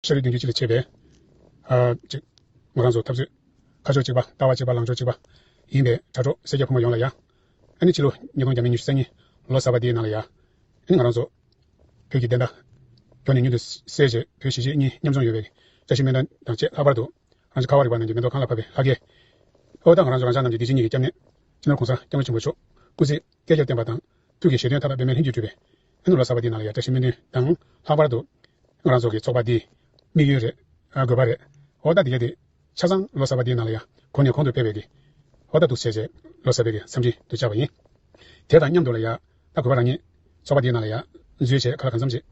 ཤ་རུས་གདན་གྱི་ཆུ་ལས་མཆེད་པའི། གཅིག། ངོ་རང་བཟོ་ཐབས་མཛོད། ཁ་ཕྱོགས་གཅིག་པ་ལྟ་བ་གཅིག་པ་ལངས་ཕྱོགས་གཅིག་པ། ཡིན་པས་དྲ་གྲོགས་སེར་སྐྱ་ཕོ་མོ་ཡོངས་ལ་ཡང། ཨ་ནི་ཕྱི་ལོ་ཉིས་སྟོང་གྱ་མེད་ཉི་ཤུ་རྩ་གཉིས་ལོ་གསར་པ་འདིའི་ནང་ལ་ཡ། ཨ་ནི་ངོ་རང་བཟོ། བོད་ཀྱི་བདེན་མཐའ། གྱོ་ནས་མྱུར་དུ་སེལ་བྱེད་བོད་གཞིས་བྱེས་གཉིས་མཉམ་འཛོམས་ཡོད་པའི་བཀྲ་ཤིས་སྨན་ཁང་དང་བཅས་ལྷག་པར་དུ། རང་ཅག་ཁ་བ་རི་བ་རྣམས་ཀྱི་མེ་ཏོག་གང་ལ་ཕབ་པའི་ལྷ་སྐལ། ཨོ་ད་ང་རང་བཟོ་རང་ཅག་རྣམས་ཀྱི་བདེ་སྐྱིད་གཉིས་ཀྱི་སྐྱབས་གནས། སྤྱི་ནོར་གོང་ས་སྐྱབས་མགོན་ཆེན་པོ་མཆོག་སྐུ་ཚེ་བསྐལ་བརྒྱར་བརྟན་པ་དང། ཐུགས་ཀྱི་བཞེད་དོན་ཐ་དག་པད་མའི་ལྷན་ཅིག་སྤྲུལ་པའི། ཨེ་ནུ་ལ་གསར་བ་འདི་རྣམས་ལ་ཡང་བཀྲ་ཤིས་སྨོན་འདུན་དང། ལྷག་པར་དུ། ང་རང་ཚོ་གི་ཚོགས་པ་འདིའི། དམིགས་ཡུལ་རེད། དགོས་པ་རེད། འོ་ད་འདི་ག་དེ། ཆ་ཚང་ལོ་གསར་པ་འདིའི་ནང་ལ་ཡང་གོང་ནས་གོང་དུ་ཕེབས་པའི་གི། འོ་ད་ཐུགས་བརྩེ་ཆེ། ལོ་གསར་པའི་གི་འཚམས་འདྲི་དུ་བཅར་བ་ཡིན། དེ་དང་མཉམ་དུ་ལ་ཡང། ད་དགོས་པ་རང་ཉིད། ཚོགས་པ་འདིའི་ནང་ལ་ཡང། མཛོད་ཆེ་ཁ་ལ་གང་འཚམས་ཅིག།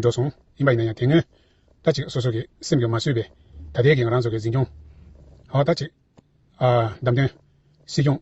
འགྲོ་སོང། ཡིན་པ་ཡིན་ན་ཡང་དེ་སྔོན། ད་ཅིག་སོ་སོ་གི་སེམས་ཀྱི་མ་བཟོད་པའི། ད་ལྟའི་གི་ང་རང་ཚོ་གི་འཛིན་སྐྱོང། འོ་ད་ཅིག། བདམས་ཐོན། སྲིད་སྐྱོང།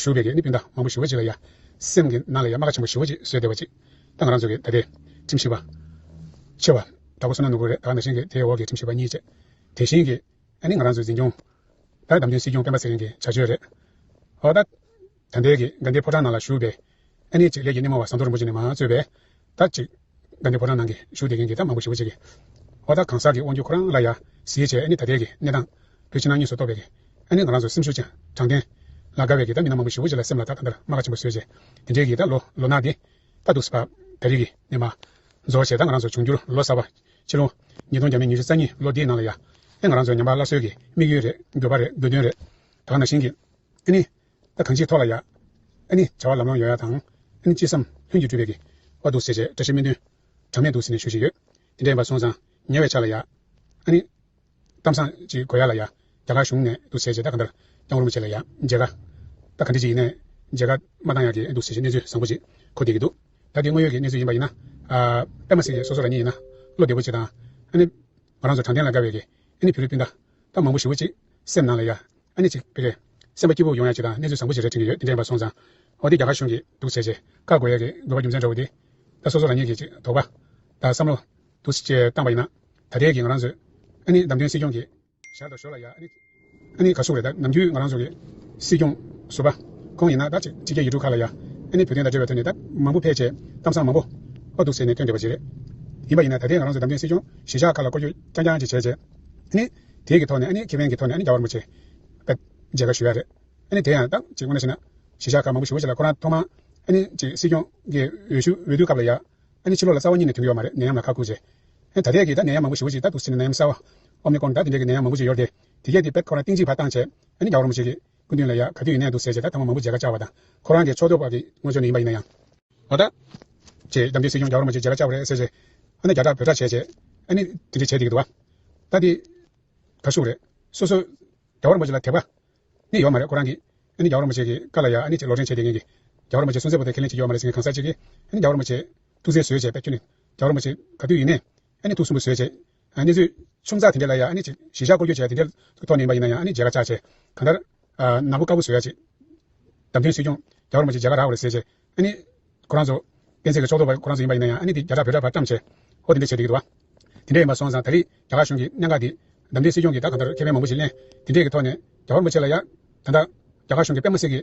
ཞུགས་པའི་གནས་སྤུན་ཟླ་མང་པོ་ཞི་བ་བྱེད་ལ་ཡ། སེམས་ཀྱི་ནང་ལ་ཡ་མ་ག་ཆེན་པོ་ཞི་བ་གཅིག་བཟོས་བསྡད་པ་ཅིག་ད་ང་རང་ཚོ་གི་ད་ལྟའི་ཁྲིམས་ཞིབ་པ། ཆེ་བ། ད་ཁོ་སོ་ན་ནོར་བུ་རེད་ད་ང་ད་བཞེངས་ཀྱི་དེའི་འོག་གི་ཁྲིམས་ཞིབ་པ་གཉིས་བཅས། དེ་བཞིན་གྱི། ཨ་ནི་ང་རང་ཚོའི་འཛིན་སྐྱོང། ད་བདམས་ཐོན་སྲིད་སྐྱོང་སྤེན་པ་ཚེ་རིང་གི་བྱ་སྤྱོད་རེད། ཨོ་ད། ད་ལྟའི་གི་དགའ་ལྡན་ཕོ་བྲང་ནང་ལ་བཞུགས་པའི། ཨ་ནེ་ཅིག་ལས་ཀྱི་སྣེ་མོ་བ་ཟམ་གདོང་རིན་པོ་ཆེ་ནས་མ་རྩོད་པས། ད་ཅིག། ད་ནི་ཕོ་བྲང་ནང་གི་བཞུགས་སྡེ་རྒན་གྱིས་ད་མང་པོ་ཞུ་བ་བྱེད་ཀྱི། ཨོ་ད་གང་ཟག་གི་དབང་རྒྱུད་ཁོ་རང་ལ་ཡ། ཟིའི་ཆེ་ཨ་ནེ་ད་ལྟའི་གི་གནས་སྟངས། བུ་ཕྱི་ནང་གཉིས་སུ་གཏོགས་པའི་གི། ཨ་ནེ་ང་རང་ཚོ་སེམས་ཤུགས་ཆེ། དྲང་བདེན། ལ་དགའ་བའི་གི་ད་མི་སྣ་མང་པོ་ཞུ་བོ་བྱེད་ལ་སེམས་ལ་ད་ད་ལྟར་རྨ་ཁ་ཆེན་པོ་བཟོས་བྱས། དེ་འདྲའི་གི་ད་ལོ་ལོ་ནག་འདི། ད་འདུག་སི་ཕ། ད་རིག་གི་ནས་མ། རྫོགས་བྱས་ད་ང་རང་ཚོ་འབྱུང་འགྱུར་ལོ་གསར་བ། ཕྱི་ལོ། ཉིས་སྟོང་བརྒྱ་མེད་ཉི་ཤུ་རྩ་གཉིས་ལོ་འདིའི་ནང་ལ་ཡ། ཨེ་ང་རང་ཚོའི་ཉམས་པ་སླར་གསོའི་གི་དམིགས་ཡུལ་རེད་འགྱོད་པ་རེད་དགོས་དོན་རེད། དག་ན་བཞིན་གི། ཨེ་ནེ། ད་གང་ཅིའི་ཐོག་ལ་ཡ། ཨ་ནི། བྱ་བ་ལམ་ལམ་ཡོད་ཡ་དང། ཨ་ནི་ཅི་བསམ། ལྷུན་གྱིས་གྲུབ་པའི། བ་འདུག་ཟེར། བཀྲ་ཤིས་སྨོན་འདུན། གྲངས་མེད་འདུག་ཟེར་ནས་ཞུ་བཞིན་ཡོད། དེ་འདྲའི་བ་སོང་ཙང། ཉལ་བའི་ཆ་ལ་ཡ། ཨ་ནི། གཏམ་བཟང། ཅིག་དགོས་ཡ་ལ་ཡ། རྒྱ་གར་གཞུང་ནས་འདུག་ཟེར། ད་ག་འདྲ། ཀྱང་རུ་མ་བྱེད་ལ་ཡ། མཇལ་ཁ། ད་ག་འདྲི་ཅིག་ཡིན། མཇལ་ཁ། མ་བཏང་ཡ་གི་འདུག་ཟེར། གནས་ཚུལ་བཟང་པོ་ཅིག། གོ་བསྡད་ཀྱི་འདུག། ད་དེ་དངོས་ཡོད་ཀྱི་གནས་ཚུལ་ཡིན་པ་ཡིན་ན། པད་མ་སེང་གེ་སོ་སོ་རང་ཉིད་ཡིན་ན། བློ་བདེ་པོ་བྱེད་དང། ཨ་ནི། ང་རང་ཚོ་དྲང་བདེན་ལ་དགའ་བའི་གི། ཨ་ནི་བུ་རུ་སྤུན་ཟླ། སྐབས་མང་པོ་ཞིབ་བོ་གཅིག། སེམས་ནང་ལ་ཡ། ཨ་ནི་གཅིག། དཔེ་རེད། སེམས་པ་སྐྱིད་པོ་ཡོང་ཡ་གཅིག་དང་གནས་ཚུལ་བཟང་པོ་ཞིག་རེ་འཕྲིན་གྱི་ཡོད་འདི་འདྲའི་ཡིན་པ་སོང་ཙང། འོ་འདི་རྒྱ་གར་གཞུང་གིས་སྡུག་བྱས་རྗེས། བཀག་དགོས་ཡ་གི་དགོས་པ་རྒྱུ་མཚན་འདྲ་བོ་འདི། ད་སོ་སོ་རང་ཉིད་ཀྱིས་གཅིག་དོགས་པ། དང་བསམ་བློ། དུ་བཅས་བཏང་པ་ཡིན་ན། ད་ལྟའི་གི་ང་རང་ཚོའི། ཨ་ནི་བདམས་ཐོན་སྲིད་སྐྱོང་གི། ཞར་དུ་ཞོར་ལ་ཡ། ཨ་ནི། ཨ་ནི་ག་སུ་རེད་ད་ནམ་རྒྱུན་ང་རང་ཚོ་གི། སྲིད་སྐྱོང། ཟུར་པ། ཁོང་ཡིན་ན་ད་གཅིག་ཕྱི་རྒྱལ་ཡུལ་གྲུ་ཁག་ལ་ཡ། ཨ་ནི་བོད་དོན་དང་འབྲེལ་བའི་ཐོག་ནས་ད་མང་པོ་ཕལ་ཆེར། གཏམ་བཟང་མང་པོ། པོ་སྡུག་བྱས་ནས་ཐོན་བསྡད་པ་རྗེས་རེད། ཡིན་པ་ཡིན་ན་ད་ལྟའི་ང་རང་ཚོ་བདམས་ཐོན་སྲིད་སྐྱོང་གཞིས་ཆགས་ཁག་ལ་བསྐོར་རྒྱུ་རྐྱང་རྐྱང་གཅིག་བྱས་རྗེས། དེ་དེ་གི་ཐོག་ནས་ཁེ་ཕན་གི་ཐོག་ནས་རྒྱ་བར་མོ་ཆེ་བཀའ་མཇལ་ཁ་ཞུ་ཡ་རེད། དེ་ཡང་ཏང་གཅིག་དབུ་ན་ཕྱིན་ན་གཞི་བཞག་ཁག་མང་པོ་ཞུ་བ་ཞིག་ལ་ཁོ་རང་ཐོག་མ་སྲིད་སྐྱོང་གི་འོས་ཤུ་འོས་བསྡུ་སྐབས་ལ་ཡ་ཕྱི་ལོག་ལ་རྩ་བ་གཉིས་ནས་དུང་གི་ཡོག་མ་རེད་ནད་ཡམས་ལ་ཁག་ཁུར་བྱེད་ད་ལྟས་ཀྱི་ད་ནད་ཡམས་མང་པོ་ཞུ་བ་ཞིག་ལྟ་འདུག་སེ་ནད་ཡམས་གསར་བ Omicron ད་དེ་འདྲས་ཀྱི་ནད་ཡམས་མང་པོ་ཞིག་ཡོར་དེ་དེ་གས་དེ་བེད་ཁོ་རང་ཏིང་གཅིག་བ་ཏང་བྱས་རྒྱ་བར་མོ་ཆེ་གི་སྐུ་མདུན་ལ་ཡང་ག་དུས་ཡིན་ན་འདུག་ཟེར་བྱས་ད་ཐང་མ་མ་བུ་མཇལ་ཁ་བཅར་བ་དང། ཁོ་རང་གི་ཕྱོགས་གཏོགས་པ་གི་དངོས་ཆོས་ནས་ཡིན་པ་ཡིན་ན་ཡང། བ་དང། ཅེས་རྒྱ་མདུན་སྲིད་སྐྱོང་རྒྱ་བོར་མ་གཅིག་མཇལ་ཁ་བཅར་བ་རེད་ཟེར་བྱས། ཨ་ན་རྒྱ་གྲགས་བོད་གྲགས་བྱས་བྱས། ཨ་ནི་དེ་འདྲས་བྱས་བསྡད་ཀྱི་འདུག་བ། ད་འདི། གར་ཞུགས་རེད། སོ་སོ། རྒྱ་བོར་མ་གཅིག་ལ་དེ་བ། ནི་ཡོད་མ་རེད་ཁོ་རང་གིས། ཨ་ནི་རྒྱ་བོར་མ་གཅིག་གི་བཀའ་ལ་ཡང་ཨ་ནི་ཅིག་ལོག་འདྲེན་བྱས་བསྡད་མཁན་གི། རྒྱ་བོར་མ་གཅིག་སུན་གཙེར་བོ་དེ་ཁས་ལེན་བྱེད་ཀྱི་ཡོད་མ་རེད་ཟེར་མཁན་གང་ཟག་ཅིག་གིས། ཨ་ནི་རྒྱ་བོར་མ་གཅིག། ཐུགས་བརྩེ་བཟོས་བྱས་པས་ཁྱོད་ནི། རྒྱ་བོར་མ་གཅིག་ག་དུས་ཡིན་ནས། ཨ་ནི་ཐུགས་སུན་པོ་བཟོས་རྗེས། ཨ་ནི་ཚོས་ཆུང་ཚགས་དེ་འདྲ་ལ་ཡང་ཨ་ནི་གཞི་བཞག་སྐོར་སྐྱོད་བྱས་ཏེ་འདྲེ་ཐོག་ནས་ཡིན་པ་ཡིན་ན་ཡང་ཨ་ནི་མཇལ་ཁ་བཅར་རྗེས། གང་ལྟར། ནག་པོ་དཀར་པོ་བཟོས་ཡ་རྗེས། བདམས་ཐོན་སྲིད་སྐྱོང་རྒྱ་གར་མོ་ཆེས་མཇལ་ཁ་རག་གོ་རེ་ཟེར་རྗེས། ཨ་ནི། ཁོ་རང་ཚོ། སྤེན་ཚེ་གི་ཕྱོགས་གཏོགས་པ་ཁོ་རང་ཚོ་ཡིན་པ་ཡིན་ན་ཡང་ཨ་ནི་འདི་རྒྱ་གྲགས་བོད་གྲགས་བར་བཀྲམས་བྱས། ཧོ་དེ་འདྲ་བྱས་བསྡད་ཀྱི་འདུག་བ། དེ་འདྲ་ཡིན་པ་སོང་ཙང་ད་རེས་རྒྱ་གར་གཞུང་གི་གནད་འགག་འདི། བདམས་ཐོན་སྲིད་སྐྱོང་གིས་ད་གང་ལྟར་ཁེ་ཕན་མང་པོ་ཞིག་གླེང། དེ་འདྲས་ཀྱི་ཐོག་ནས། རྒྱ་བོར་མོ་ཆེ་ལ་ཡང། ད་ལྟ། རྒྱ་གར་གཞུང་གི་པད་མོ་སེར་གྱི།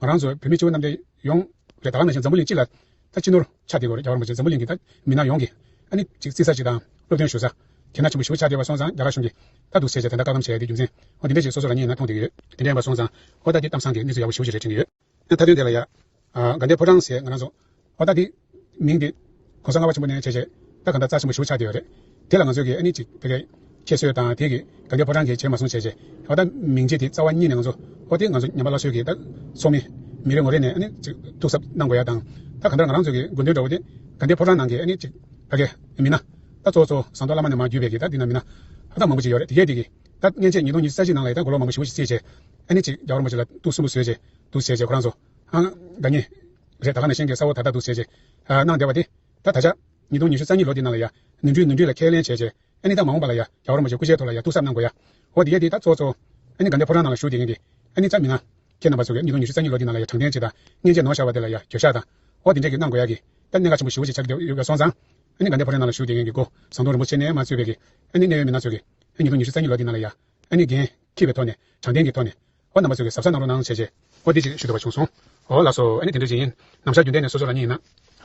ང་རང་ཚོ་བོད་མི་ཆེན་པོ་རྣམས་ཀྱང་ཡོངས་རྒྱ་ད་ལམ་ན་ཞིང་འཛམ་བུ་གླིང་སྤྱི་ལ་ད་སྤྱི་ནོར་ཆགས་བསྡད་དགོས་རེད་རྒྱ་གར་མ་ཆེ་འཛམ་བུ་གླིང་གི་ད་མི་སྣ་ཡོངས་ཀྱིས་ཨ་ནི་ཅིག་བརྩི་ས་ཅིག་དང་སློབ་སྟོན་ཞུ་ས་ཁྱེད་ན་ཆེན་པོ་ཞིག་བྱ་བསྡད་པ་སོང་ཙང་རྒྱ་གར་གཞུང་གིས་ད་སྡུག་ཟེར་བྱས་དེ་འདྲ་བཀག་སྡོམ་བྱས་དེ་རྒྱུ་མཚན་ཨོ་དེ་འདྲ་ཞིག་སོ་སོ་རང་ཉིད་ན་མཐོང་བསྡད་ཡོད་དེ་འདྲ་ཡིན་པ་སོང་ཙང་ཨོ་ད་དེ་གཏམ་བཟང་གི་གནས་ཚུལ་ཡག་པོ་ཞིག་རེད་དྲན་གྱི་ཡོད། ད་ཐ་དོན་དེ་ལ་ཡ། དགའ་ལྡན་ཕོ་བྲང་ཟེར་ང་རང་ཚོ་ཨོ་ད་འདིས། མིང་འདི། གོང་ས་ལྔ་བ་ཆེན་པོ་ནས་བྱས་རྗེས། ད་ག་འདྲ་རྩ་ཆེན་པོ་ཞུགས་ཆགས་བསྡད་ཡོད་རེད། དེ་ལ་ང་ཚོས་གི་ཨ་ནི་ཅིག་དེ་གས། ཁྱེད་གསོད་དང་དེ་གི་ག་འདི་ཕོ་བྲང་གི་བྱས་མ་སོང་བྱས་རྗེས། ཨོ་ད་མིང་རྗེས་དེ་རྩ་བ་གཉིས་ནས་ང་ཚོ། ཨོ་དེ་ང་ཚོ་ཉམས་པ་སླ་གསོད་གི་ད། ཚོགས་མི། མི་རེ་ངོ་རེ་ནས་ཨ་ནི་ཅིག་ཐུགས་གཟབ་གནང་དགོས་ཡ་དང། ད་ག་འདྲ་ང་རང་ཚོས་གི་དགོས་འདོད་འདྲ་བོ་དེ། ག་འདི་ཕོ་བྲང་ནང་གི་ཨ་ནི་ཅིག། ད་གས། མི་སྣ། ད་གཙོ་བཙོ་ཟངས་མདོག་བླ་མ་ནས་མ་བརྒྱུད་པའི་གི་ད་འདི་ན་མི་སྣ། ཧ་ཐང་མང་པོ་ཅིག་ཡོད་རེད་དེ་གས་དེ་གི། ད་མཉེན་ཆས་ཉིས་སྟོང་ཉི་ས་གཞི་ནང་ལ་ཡི་ད་མགོ་ལོག་མང་པོ་ཞིག་བོ་ཞིག་བསྲེས་རྗེས། ཨ་ནི་ཅིག་རྒྱ་གར་མོ་ཅིག་ལ་ཏུག་སུན་པོ་བཟོས་རྗེས། འདུག་བྱས་རྗེས་ཁོ་རང་ཚོ། ད་ཉེ། རེད་ད་ལག་ནས་གཤེན་གྱི་ས་བོ་ད་ལྟ་འདུག་བྱས་རྗེས། གནང་བདེ་བ་དེ། ད་ད་ཆ། ཉིས་སྟོང་ཉི་ཤུ་རྩ་གཉིས་ལོ་དེའི་ནང་ལ་ཡ། ནུས་འཕྲུལ་ནུས་འཕྲུལ་ལ་ཁས་ལེན་བྱས་རྗེས། ཨ་ནི་ད་མ་འོངས་པ་ལ་ཡ། ག་བར་མོ་བྱས་སྐུ་ཞལ་ཐོག་ལ་ཡ་ཐུག་གསབ་གནང་དགོས་ཡ། ཧོ་དེ་ཡས་དེ་ད་ཚོ་ཚོ། ཨ་ནི་དགའ་ལྡན་ཕོ་བྲང་ནང་ལ་བཞུགས་དེ་ཡིན་གྱི། ཨ་ནི་རྩ་མི་ང། ཁྱེད་རྣམ་པ་ཚོ་གས་ཉིས་སྟོང་ཉི་ཤུ་རྩ་གཉིས་ལོ་དེའི་ནང་ལ་ཡ་དྲང་བདེན་གྱིས་ད། མཉེན་ཆས་ནོར་ཤར་བ་དེ་ལ་ཡ་གྱོད་ཤག་དང། ཧོ་དེ་འདྲས་གྱིས་གནང་དགོས་ཡ་གི། ད་གནས་ཁ་ཆེན་པོ་ཞི་བོ་ཆེ་ཆགས་ཀྱི་ཡོད་སོང་ཙང། ཨ་ནི་དགའ་ལྡན་ཕོ་བྲང་ནང་ལ་བཞུགས་དེ་ཡིན་གྱི་སྒོ། ཟངས་དུང་རིན་པོ་ཆེ་ནས་མ་གཙོས་པའི་གི། ཨ་ནི་གནས་ཡོད་མི་སྣ་ཚོ་གི། ཉིས་སྟོང་ཉི་ཤུ་རྩ་གཉིས་ལོ་དེའི་ནང་ལ་ཡ། ཨ་ནི་རྒན། ཁྱི་བའི་ཐོག་ནས། དྲང་བདེན་གྱི་ཐོག་ནས། ཨོ་རྣམ་པ་ཚོས་གི་ཟབ་ས་གནང་རོགས་གནང་བྱས་རྗེས། ཨོ་འདི་ཅིག་ཞུ་འདོད་པ་བྱུང་སོང། ཨོ་ལགས་སོ་ཨེ་ནི་དེ་འདྲའི་ཅིག་ཡིན། ནམ་ཞར་རྒྱུན་ལྡན་ནས་སོ་སོ་རང་ཉིད་ཡིན་ན།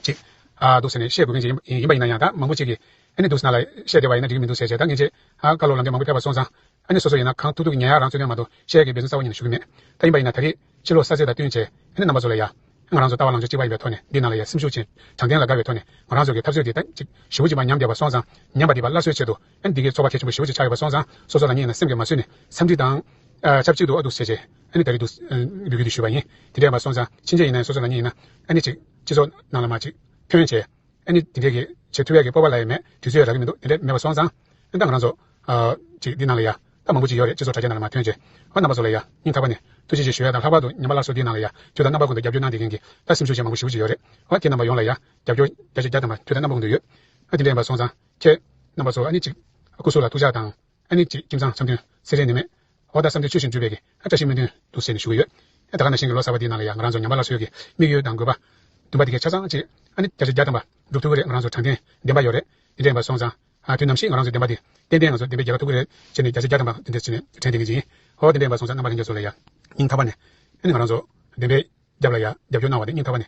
ཅིག། ཨ། འདུག་ཟེར་ནས་བཤད་དགོས་མཁན་ཅིག་ཡིན། ཡིན་པ་ཡིན་ན་ཡང་ད་མང་པོ་ཅིག་གིས། ཨེ་ནི་འདུག་ཟེར་ན་ལ། བཤད་བདེ་བ་ཡིན་ན་འགྲིག་གི་མི་འདུག་ཟེར་བྱས་ད་ངེས་འབྱེད། ཨ། བཀའ་སློབ་ལམ་འབྲས་མང་པོ་ཕེབས་པ་སོང་ཙང། ཨེ་ནི་སོ་སོ་ཡིན་ན་གང་ཐུག་ཐུག་གི་ཉན་ཡག་རང་རྩོད་ནས་མ་གཏོགས་བཤད་གི་འབད་བརྩོན་རྩ་བ་ཉིད་ནས་ཞུ་གི་མེད། ད་ཡིན་པ་ཡིན་ན་ད་རེས། ཕྱི་ལོགས་ས་ཚིགས་དང་བསྟུན་བྱས། ཨེ་ནི་རྣམ་པ་ཚོ་ལ་ཡ། ཨེ་ང་རང་ཚོ་ལྟ་བ་ལང་ཚོ་གཅིག་པ་ཡིན་པའི་ཐོག་ནས་འདི་ནང་ལ་ཡ་སེམས་ཤུགས་ཆེན། དྲང་བདེན་ལ་དགའ་བའི་ཐོག་ནས་ང་རང་ཚོ་གི་འཐབ་རྩོད་འདི་ད་ཅིག། ཞི་བོ་ཅིག་པ་ཉམས་བདེ་བ་སོང་ཙང། ཉམས་པ་འདི་པ་སླར་གསོའི་ཆེད་དུ། འདི་གའི་ཚོགས་པ་ཐེག་ཆེན་པོ་ཞི་བ་ཞེས་ཆགས་ཡོད་པ་སོང་ཙང་སོ་སོ་རང་ཉིད་ནས་སེམས་ཀྱིས་མ་བཟོད་ནས་འཚམས་འདྲི་དང། ཆབས་ཅིག་ཏུ་ཨ་ཏུ་སེ་བྱེད་ཨ་ནི་ད་རེ་འདུག་འདུག་གི་འདུག་ཞུས་པ་ཡིན། དེ་འདྲ་ཡིན་པ་སོང་ཙང་ཕྱིན་ཆད་ཡིན་ནའི་སོ་སོ་རང་ཉིད་ཡིན་ན་ཨ་ནི་ཅིག་སྤྱི་ཚོགས་ནང་ལ་མ་ཅིག་ཐོན་བྱས་ཨ་ནི་དེ་འདྲས་ཀྱི་བྱེད་ཐུབ་ཡག་གི་སྤོབས་པ་ལ་ཡང་མེད་དུས་ཚོད་ཡང་རག་གི་མི་འདུག་དེ་འདྲས་མེད་པ་སོང་ཙང་ཨ་ནི་ད་ང་རང་ཚོ་ཅིག་འདི་ནང་ལ་ཡ་ད་མང་པོ་ཅིག་ཡོད་རེད་སྤྱི་ཚོགས་དྲ་རྒྱ་ནང་ལ་མ་ཐོན་བྱས་ཨོ་རྣམ་པ་ཚོ་ལ་ཡ་སྙིང་ཐག་པ་ནས་ཐུགས་རྗེ་ཆེ་ཞུ་ཡ་དང་ལྷག་པར་དུ་ཉམས་པ་སླར་གསོ་འདིའི་ནང་ལ་ཡ་ཁྱོད་དང་རྣམ་པ་ཀུན་ཏུ་རྒྱབ་སྐྱོར་གནང་བསྡད་མཁན་གྱི་ད་སེམས་ཤུགས་ཅན་མང་པོ་ཞི་བུ་ཅིག་ཡོད་རེད་ཨོ་ཁྱེད་རྣམ་པ་ཡོངས་ལ་ཡ་རྒྱབ་སྐྱོར་རྒྱ་ཆེ་རྒྱ་དམ་པ་ཁྱོད་དང་རྣམ་པ་ཀུན་ཏུ་ཡོད་ཨ་དེ་འདྲས་ཡིན་པ་སོང་ཙང་ཁྱེད་རྣམ་པ་ཚོ་ཨ་ནི་གཅིག། སྐུ་གཟུགས་ལ་ཐུགས་ཅག་དང། ཨ་ནི་གཅིག་ཁྱིམ་ཚང་འཆམ་མཐུན་སེ་རེ་ནི་མེད། འོ་ད་བསམ་དོན་ཆོས་བཞིན་འགྲུབ་པའི་གི་ཨ་བཀྲ་ཤིས་སྨོན་འདུན་འདུག་ཟེར་ནས་ཞུ་གི་ཡོད། ཨེ་ད་ག་ན་གཞན་གི་ལོ་གསར་པ་དེའི་ནང་ལ་ཡང་ང་རང་ཚོ་ཉམས་པ་སླར་གསོས་ཀྱི་དམིགས་ཡུལ་དང་དགོས་པ། འདུན་པ་དེ་གས་ཆ་ཚང་གཅིག། ཨ་ནི་བརྒྱ་ཆ་བརྒྱ་ཐམ་པ་འགྲུབ་ཐུབ་གི་རེད་ང་རང་ཚོ་དྲང་བདེན་བདེན་པ་ཡོད་རེད་དེ་འདྲས་ཡིན་པ་སོང་ཙང། དུས་ནམ་ཞིག་ང་རང་ཚོའི་བདེན་པ་དེ་ཏན་ཏན་ང་ཚོ་བདེན་པས་རྒྱལ་བ་ཐུབ་གི་རེད་ཅེས་ནས་བརྒྱ་ཆ་བརྒྱ་ཐམ་པ་འདི་འདྲས་བྱས་ནས་དྲན་བདེན་གི་ཅིང། ཨོ་དེ་འདྲས་ཡིན་པ་སོང་ཙང་རྣམ་པ་གཞན་ཚོ་ལ་ཡང་སྙིང་ཐག་པ་ནས། ཨ་ནི་ང་རང་ཚོ་བདེན་པས་རྒྱབ་ལ་ཡང་རྒྱབ་སྐྱོར་གནང་བ་དེ་སྙིང་ཐག་པ་ནས།